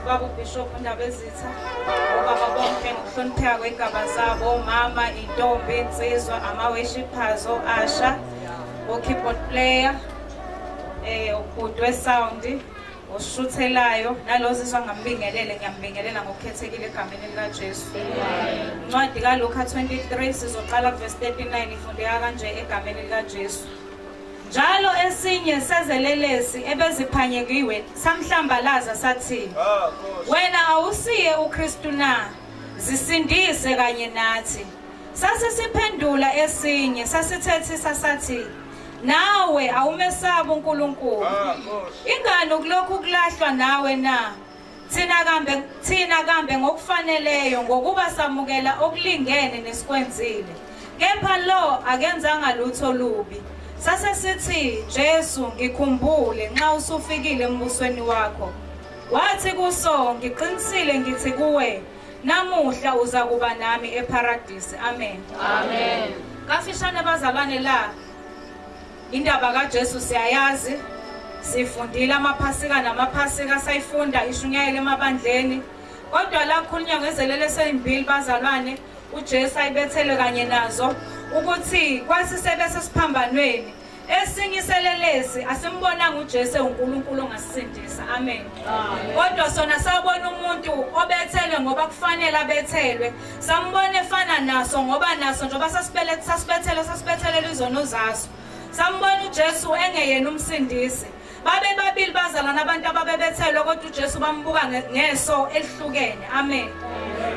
ubaba ubishop undabezitha obaba bonke ngokuhlonipheka kwey'gaba zabo omama iy'ntombi insizwa ama-worshippers o-asha o-keyboard player eh ubhuti wesound oshuthelayo nalozizwa ngambingelele ngiyambingelela ngokukhethekile egameni likaJesu. Incwadi kaLuka 23 sizoqala kuverse 39 ifundeka kanje egameni likaJesu. Njalo esinye sezelelesi ebeziphanyekiwe samhlambalaza sathi, ah, Wena awusiye uKristu na? Zisindise kanye nathi. Sasisiphendula esinye sasithethisa sathi, Nawe awumesabi uNkulunkulu. Ah, Ingani ukulokhu kulahlwa nawe na? Thina kambe thina kambe ngokufaneleyo ngokuba samukela okulingene nesikwenzile. Kepha lo akenzanga lutho lubi. Sase sithi Jesu ngikhumbule nxa usufikile embusweni wakho. Wathi kuso ngiqinisile ngithi kuwe namuhla uza kuba nami eparadise. Amen. Amen. Kafishane bazalwane la Indaba kaJesu siyayazi, sifundile amaphasika namaphasika asayifunda ishunyayele emabandleni. Kodwa la kukhulunywa ngezelele eseyimbili bazalwane, uJesu ayibethele kanye nazo ukuthi kwasisebe sesiphambanweni esinye iselelesi asimbonanga uJesu uNkulunkulu ongasisindisa amen kodwa sona sabona umuntu obethelwe ngoba kufanele abethelwe sambona efana naso ngoba naso njengoba sasibeleth- sasibethele sasibethelela izono zaso sambona ujesu engeyena umsindisi babe babili bazalana abantu ababebethelwe kodwa ujesu bambuka nge- ngeso elihlukene amen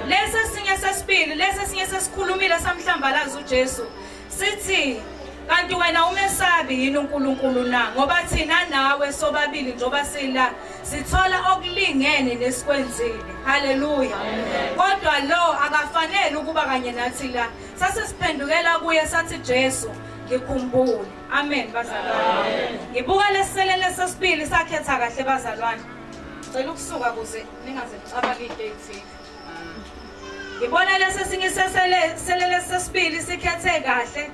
lesi esinye sesibili lesi esinye sesikhulumile samhlambalaza ujesu sithi kanti wena umesabi yini uNkulunkulu na ngoba thina nawe sobabili njoba sila sithola okulingene nesikwenzile haleluya kodwa lo akafanele ukuba kanye nathi la sase siphendukela kuye sathi Jesu ngikhumbule amen bazalwane ngibuka leselele sesibili sakhetha kahle bazalwane cela ukusuka kuze ningaze nicabanga into ethile Ngibona lesi sinye selele sesibili sikhethe kahle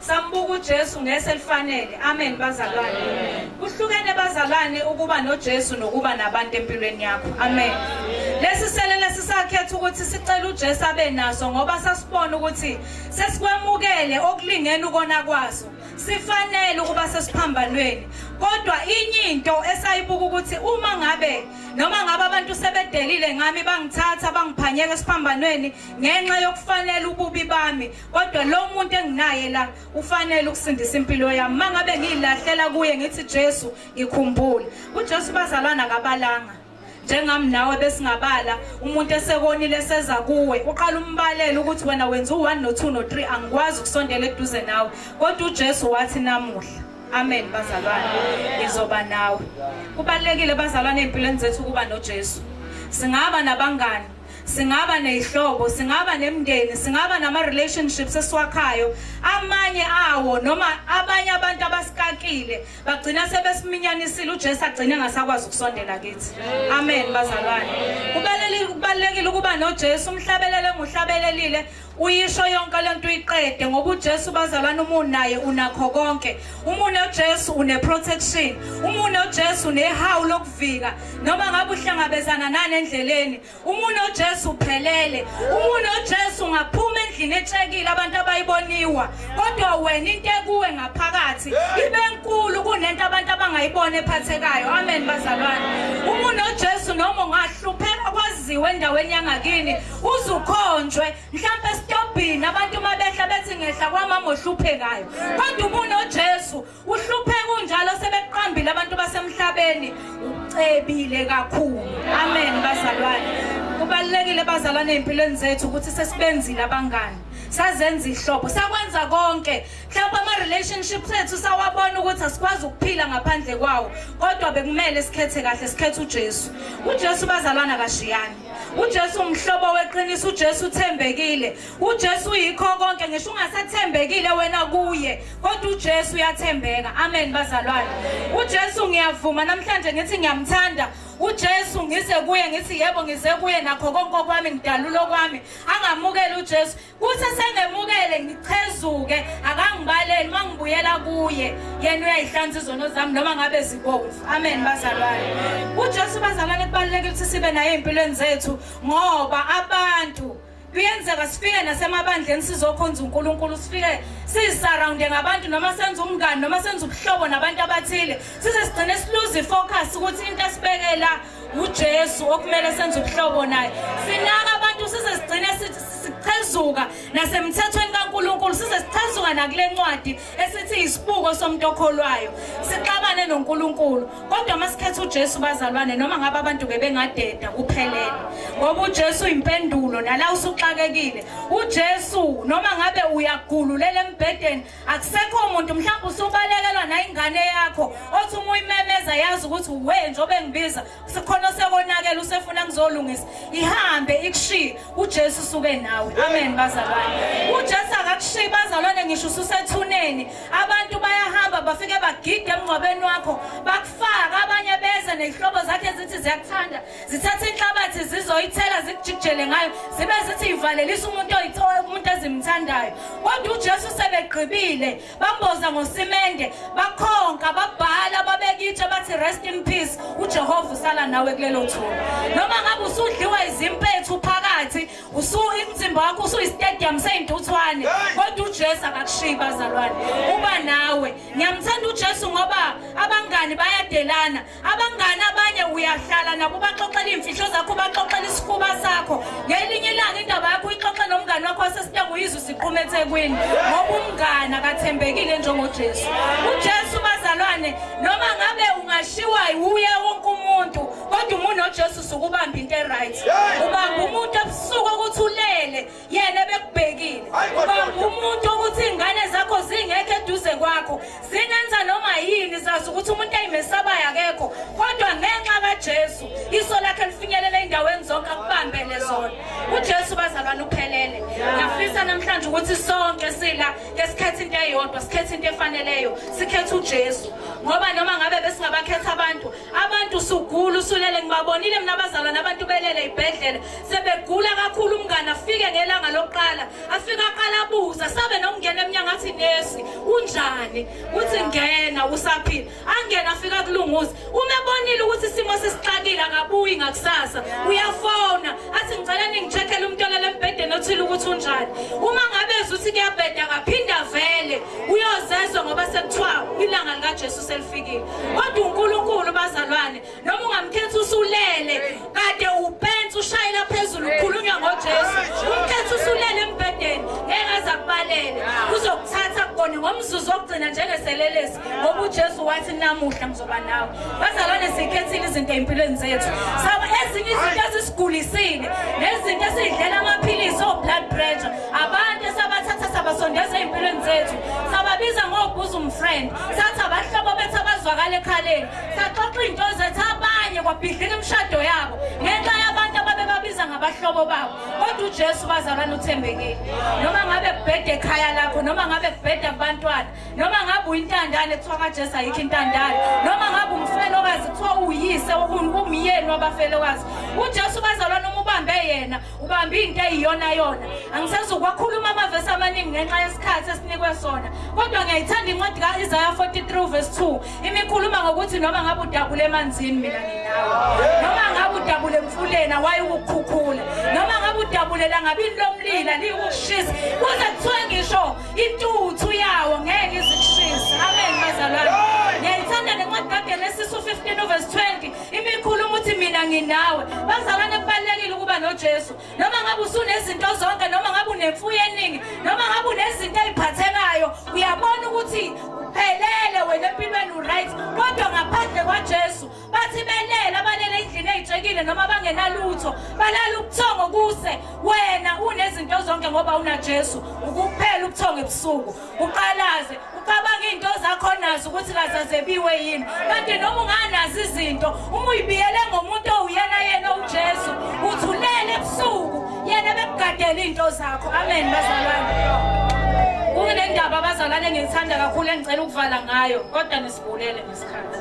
sambuka uJesu ngese lifanele amen bazalwane kuhlukene bazalwane ukuba noJesu nokuba nabantu empilweni yakho amen lesi selele sisakhetha ukuthi sicela uJesu abe naso ngoba sasibona ukuthi sesikwamukele okulingene ukona kwaso sifanele ukuba sesiphambanweni kodwa inye into esayibuka ukuthi uma ngabe noma ngabe abantu sebedelile ngami bangithatha bangiphanyeka esiphambanweni ngenxa yokufanele ububi bami kodwa lo muntu enginaye la ufanele ukusindisa impilo yami uma ngabe ngiyilahlela kuye ngithi jesu ngikhumbule ujesu bazalwana kabalanga njengami nawe besingabala umuntu esekonile seza kuwe uqala umbalele ukuthi wena wenza u-1 no-2 no-3 angikwazi ukusondela eduze nawe kodwa ujesu wathi namuhla Amen bazalwane. Ngizoba nawe. Kubalekile bazalwane empilweni zethu kuba noJesu. Singaba nabangani singaba nezihlobo singaba nemndeni singaba nama relationships esiwakhayo amanye awo noma abanye abantu abasikakile bagcina sebesimnyanisile uJesu agcine ngasakwazi ukusondela kithi amen bazalwane kubalekile ukuba noJesu umhlabelele nguhlabelelile Uyisho yonke lento uyiqede ngoba uJesu bazalwana umuntu naye unakho konke. Umuntu noJesu une protection. Umuntu noJesu unehawu lokuvika noma ngabe uhlangabezana nani endleleni. Umuntu noJesu uphelele. Umuntu noJesu ungaphuma endlini etshekile abantu abayiboniwa. Kodwa wena into ekuwe ngaphakathi ibe nkulu kunento abantu abangayibona ephathekayo. Amen bazalwana. Umuntu noJesu noma ungahlupheka kwaziwe endaweni yangakini uzukhonjwe mhlawumbe esitobhini abantu uma behla bethi ngehla kwamama ohluphekayo kodwa ubunojesu uhlupheka unjalo sebekuqambile abantu basemhlabeni ucebile kakhulu amen bazalwane kubalulekile bazalwane ey'mpilweni zethu ukuthi sesibenzile abangani sazenza ihlobo sakwenza konke mhlawumbe ama-relationships ethu sawabona ukuthi asikwazi ukuphila ngaphandle kwawo kodwa bekumele sikhethe kahle sikhethe ujesu ujesu bazalwana kashiyani uJesu umhlobo weqiniso uJesu uthembekile uJesu uyikho konke ngisho ungasathembekile wena kuye kodwa uJesu uyathembeka amen bazalwane uJesu ngiyavuma namhlanje ngithi ngiyamthanda uJesu ngise kuye ngithi yebo ngize kuye nakho konke okwami ngidalula okwami angamukele uJesu Kuthi esengemukele ngichezuke akangibaleli uma ngibuyela kuye yena uyayihlanza izono zami noma ngabe zibomvu amen bazalwane uJesu bazalwane kubalulekile ukuthi sibe naye empilweni zethu ngoba abantu kuyenzeka sifike nasemabandleni sizokhonza uNkulunkulu sifike sisurrounde ngabantu noma senza umngani noma senza ubuhlobo nabantu abathile size sigcine siluze ifocus ukuthi into esibekela uJesu okumele senze ubuhlobo naye sinaka abantu size sigcine sichezuka nasemthethweni kaNkuluNkulu size sichezuka nakule ncwadi esithi isibuko somuntu okholwayo sixabane noNkuluNkulu kodwa masikhetha uJesu bazalwane noma ngabe abantu bebengadeda kuphelele ngoba uJesu impendulo nala usuxakekile uJesu noma ngabe uyagululela embhedeni akusekho muntu mhlawumbe usubalekelwa nayingane yakho othi uma uyimemeza yazi ukuthi we njengoba engibiza sikhona osekonakela usefuna ngizolungisa ihambe ikushiye ujesu usuke nawe amen bazalwane ujesu akakushiyi bazalwane ngisho ususethuneni abantu bayahamba bafike bagide emngcwabeni wakho bakufaka abanye beze nezihlobo zakhe zithi ziyakuthanda zithatha inhlabathi zizoyithela zikujikijele ngayo zibe zithi ivalelisa umuntu umuntu ezimthandayo kodwa ujesu sebegqibile bamboza ngosimende bakhonka babhala babekitshe bathi rest in peace ujehova usala nawe kulelo thuba noma ngabe usudliwa izimpethu phakathi umzimba wakho usuyistadium seyintuthwane kodwa ujesu akakushiyi bazalwane uba nawe ngiyamthanda ujesu ngoba abangani bayadelana abangani abanye uyahlala nabo ubaxoxela iimfihlo zakho ubaxoxela isifuba sakho ngelinye ilanga indaba yakho uyixoxe nomngane wakho wasesitanga uyizwe siquma ethekwini ngoba umngane akathembekile njengojesu ujesu bazalwane noma ngabe ungashiwa wuye wonke umuntu kodwa umuntu nojesu sukubamba into eright ubamba umuntu ebusuku ukuthi ulele yena bekubhekile ubamba umuntu ukuthi ingane zakho zingekho eduze kwakho zingenza noma yini zazi ukuthi umuntu ayimesabayo akekho kodwa ngenxa kaJesu iso lakhe lifinyelela endaweni zonke akubambele zona uJesu bazalwane uphelele ngiyafisa namhlanje ukuthi sonke sila ngesikhathi into eyodwa sikhethe into efaneleyo sikhethe uJesu ngoba noma ngabe besingabakhetha abantu abantu sugula usulele ngibabonile mina abazalwane abantu belele ibhedlela sebegula kakhulu umngane afike ngelanga lokuqala afike aqala abuza sabe nokungena emnyango athi nesi unjani uthi ngena usaphila angena afika kulunguza uma ebonile ukuthi isimo sesixakile akabuyi ngakusasa uyafona athi ngicela ningicheckele umuntu olele embhedeni othile ukuthi unjani uma ngabezwa ukuthi kuyabheda akaphinde avele uyozezwa ngoba sekuthiwa ilanga likajesu selifikile kodwa unkulunkulu bazalwane noma ungamkhethi usulele kade upensi ushayela phezulu ukhulunywa ngojesu umkhethi usulele embhedeni ngeke aze akubalele uzokuthatha kugone ngomzuzu wokugcina njengeselelesi ngoba ujesu wathi namuhla mzoba nawe bazalwane sikhethile izinto ey'mpilweni zethu saba ezinye izinto ezisigulisile nezinto esidlela amaphilisi o-blood pressure abantu esabathatha sabasondeza ey'mpilweni zethu sababiza ngobhuza umfriend sathi abahlobo bethu abazwakala ekhaleni saxoxa iy'nto zethu abanye kwabhidlika imishado yabo ngenxa yabantu ababebabiza ngabahlobo babo kodwa ujesu bazalwane uthembekile noma ngabe kubheda ekhaya lakho noma ngabe kubheda kubantwana noma ngabe uyintandane kuthiwa kajesu ayikho intandane noma ngabe umfelokazi kuthiwa uyise umyeni wabafelokazi ujesu bazalwane uma ubambe yena ubambe into eyiyona yona angisezukwakhuluma amavesi amaningi ngenxa yesikhathi esinikwe sona kodwa ngiyayithanda incwadi ka-isaya 43 vesi 2 imikhuluma ngokuthi noma ngabe udabule emanzini mina nginawe noma ngabe udabule emfuleni awayi ukukhukhula noma ngabe udabule langabini lomlila liyikushisa kuze kuthiwe ngisho intuthu yawo ngeke izikushisa amen bazalwane ngiyayithanda nencwadi kagenesisi u-15 uvesi 20 imikhuluma ukuthi mina nginawe bazalwane kubalulekile ukuba nojesu noma ngabe usunezinto zonke noma ngabe unemfuyo eningi noma ngabe unezinto eziphathekayo uyabona ukuthi uphelele wena empilweni uright kodwa ngaphandle kwaJesu bathi belele abalele endlini ezitshekile noma bangenalutho balala ubuthongo kuse wena unezinto zonke ngoba unaJesu ukuphela ubuthongo ebusuku uqalaze ucabanga into zakho nazo ukuthi kazazebiwe yini kanti noma unganazi izinto uma uyibiyele ngomuntu owuyena yena uJesu uthulele ebusuku yena bekugadele into zakho amen bazalwane kunendaba abazalwane ngiyithanda kakhulu engicela ukuvala ngayo kodwa nisibulele ngesikhathi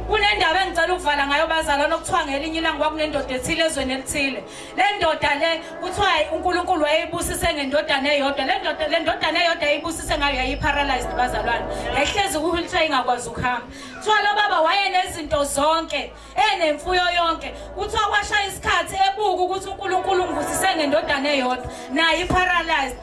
kunendaba engicela ukuvala ngayo bazalwane okuthiwa ngelinye ilanga kwakunendoda ethile ezweni elithile le ndoda le kuthiwa unkulunkulu wayeyibusise ngendodana eyodwa le ndoda le ndodana eyodwa yayibusise ngayo yayi-paralyzed bazalwane yayihlezi kuwheelchair ingakwazi ukuhamba kuthiwa lo baba wayenezinto zonke enemfuyo yonke kuthiwa kwashaya isikhathi ebuka ukuthi unkulunkulu ungivusise ngendodana eyodwa nayo i-paralyzed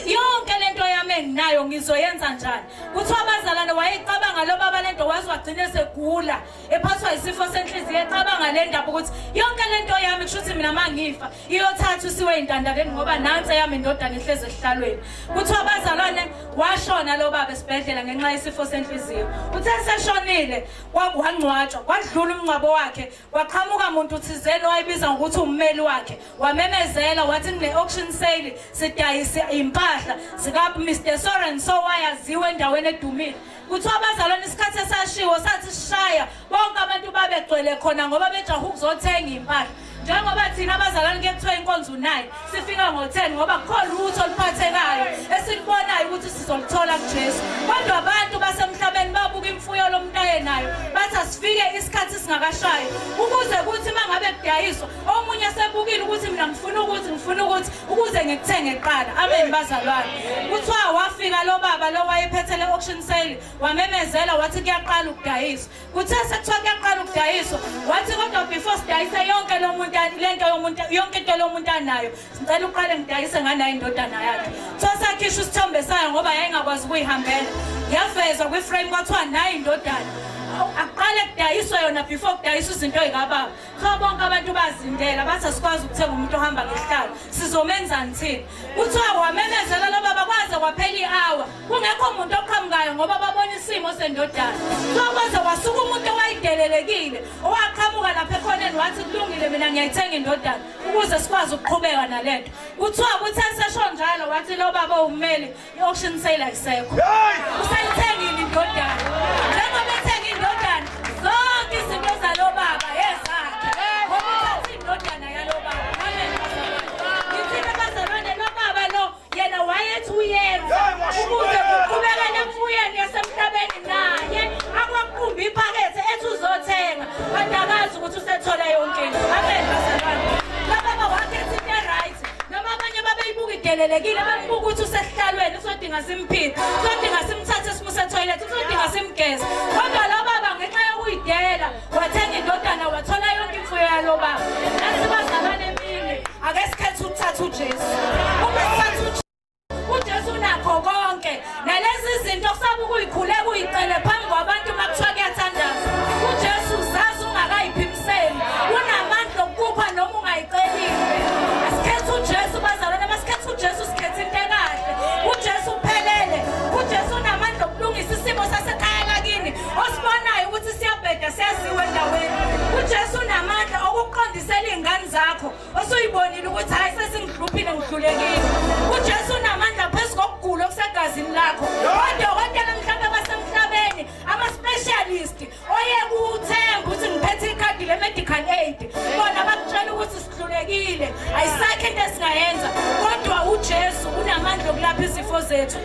yonke le nto yami enginayo ngizoyenza njani kuthiwa abazalwane wayecabanga lo baba le nto waze wagcine segula ephathwa isifo senhliziyo ecabanga le ndaba ukuthi yonke le nto yami kusho ukuthi mina uma ngifa iyothatha usiwe intandaleni ngoba nansi eyami indodana ihlezi esihlalweni kuthiwa abazalwane washona lo baba esibhedlela ngenxa yesifo senhliziyo uthe seshonile wangcwatshwa kwadlula umngcwabo wakhe kwaqhamuka muntu thizeni wayebiza ngokuthi ummeli wakhe wamemezela wathi kune-auction sale sidayise impahla zika-mr sorenso wayaziwa endaweni edumile kuthiwa abazalwane isikhathi esashiwo sathi sishaya bonke abantu babegcwele khona ngoba bejaha ukuzothenga impahla njengoba thina abazalwane kuye kuthiwa inkonzo unayo sifika ngo-ten ngoba kukhona lutho oluphathekayo esilibonayo ukuthi sizoluthola kujesu kodwa abantu basemhlabeni babuka imfuyo lomntu ayenayo bathi asifike isikhathi singakashayi ukuze kuthi uma ngabe kudayiswa omunye sebukile ukuthi mina ngifuna ukuthi ngifuna ukuthi ukuze ngikuthenge kuqala amen bazalwane kuthiwa wafika lo baba lo wayephethele auction sale wamemezela wathi kuyaqala ukudayiswa kuthe sekuthiwa kuyaqala ukudayiswa wathi kodwa before sidayise yonke lo muntu le nto yomuntu yonke into lo muntu anayo ngicela uqale ngidayise nganayo indodana yakhe so sakhishwa isithombe sayo ngoba yayingakwazi ukuyihambela yavezwa kwiframe kwathiwa nayo indodana akuqale kudayiswa yona before kudayiswa izinto ey'kababa Cha bonke abantu bazindela bathi asikwazi ukuthenga umuntu ohamba ngesihlalo sizomenzani thina kuthiwa wamemezela lo baba kwaze kwaphela i-hour kungekho muntu oqhamukayo ngoba babona isimo sendodana kuthiwa kwaze kwasuka umuntu owayidelelekile owaqhamuka lapha ekhoneni wathi kulungile mina ngiyayithenga indodana ukuze sikwazi ukuqhubeka nale nto kuthiwa kuthe sesho njalo wathi lo baba uwumeli I-auction sale ayisekho. Usayithengile indodana. Njengoba ethenga indodana, zonke izinto zalo baba ezakhe. Ngoba uthathe indodana yalo baba. Amen. Ngithina bazalwane lo baba lo yena wayethi uyenza ukuze kuqhubekele emfuyeni yasemhlabeni naye akwamqumbi iphakethe ethi uzothenga. Kanti akazi ukuthi usethola yonke into. Amen bazalwane. Lababa wakhetha into eright. Noma abanye babeyibuka idelelekile bakubuka ukuthi usesihlalweni usodinga simphile. Usodinga simthathe simuse toilet usodinga simgeze. Kodwa lo baba ngenxa yokuyidela wathenga indodana wathola yonke imfuyo yalo baba. Nasibazalwane emini ake sikhethe ukuthatha uJesu. Uma sithatha uJesu uJesu unakho konke nalezi zinto kusaba ukuyikhuleka uyicele phambi kwabantu uma kuthiwa kuyathandaza uJesu uzazi ungakayiphimiseli unamandla okukupha noma ungayicelile asikhethe uJesu bazalwane masikhethe uJesu sikhethe into ekahle uJesu uphelele uJesu unamandla okulungisa isimo sasekhaya lakini osibonayo ukuthi siyabheda siyaziwe endaweni uJesu unamandla okuqondisela izingane zakho osuyibonile ukuthi hayi sesingihluphile ngihlulekile ujesu unamandla phezu kokugula okusegazini lakho odokotela mhlawumbe basemhlabeni ama-specialist oye kuthemba ukuthi ngiphethe ikhadi le-medical aid bona bakutshela ukuthi sihlulekile ayisakho into esingayenza kodwa ujesu unamandla okulapha izifo zethu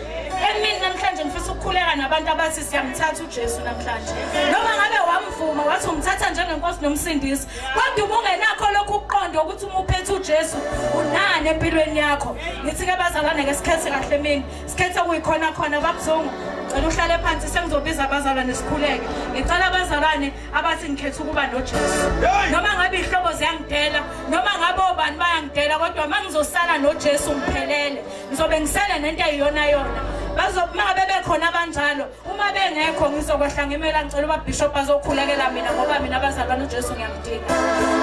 emini namhlanje ngifisa ukukhuleka nabantu abathi siyamthatha ujesu namhlanje noma ngabe wamvuma wathi umthatha njengenkosi nomsindisi kodwa uma ungenakho lokhu ukuqonda ukuthi uma uphethe ujesu unani empilweni yakho ngithi ke bazalwane ke sikhethe kahle mina sikhethe kuyikhona khona babuzungu ngicela uhlale phansi sengizobiza abazalwane sikhuleke ngicela abazalwane abathi ngikhetha ukuba nojesu noma ngabe iy'hlobo ziyangidela noma ngabe obani bayangidela kodwa uma ngizosala nojesu ngiphelele ngizobe ngisele nento eyiyona yona bazobe ngabe bekhona abanjalo uma bengekho ngizokwehla ngimela ngicela uba bishop azokhulekela mina ngoba mina abazalwane ujesu ngiyamdinga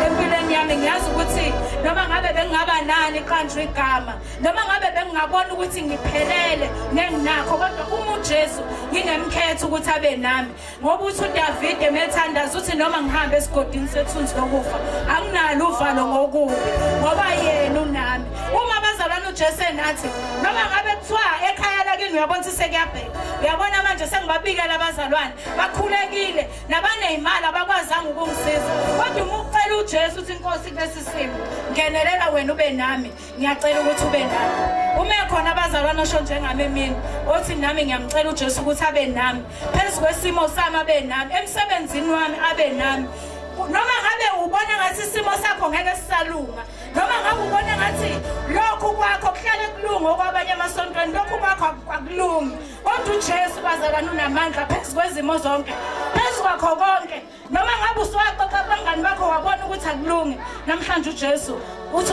empilweni yami ngiyazi ukuthi noma ngabe bengingaba nani qanjwa igama noma ngabe bengingabona ukuthi ngiphelele nenginakho kodwa uma ujesu ngingemkhetha ukuthi abe nami ngoba uthi udavide methandaza uthi noma ngihambe esigodini sethunzi lokufa anginalo uvalo ngokubi ngoba yena unami uma abazalwane ujesu enathi noma ngabe kuthiwa ekhaya lakini uyabona ukuthi sekuyabheka uyabona manje sengibabikela abazalwane bakhulekile nabaneyimali abakwazanga ukungisiza kodwa uma ucela ujesu ukuthi inkosi kulesi simo ngenelela wena ube nami ngiyacela ukuthi ube nami ume khona abazalwane osho njengami emini othi nami ngiyamcela ujesu ukuthi abe nami phezu kwesimo sami abe nami emsebenzini wami abe nami noma ngabe ubona ngathi isimo sakho ngeke sisalunga noma ngabe ubona ngathi lokhu kwakho kuhlale kulunga okwabanye emasontweni lokhu kwakho akulungi kodwa ujesu bazalwane unamandla phezu kwezimo zonke phezu kwakho konke noma ngabe usuwaxoxa abangani bakho wabona ukuthi akulungi namhlanje ujesu uthi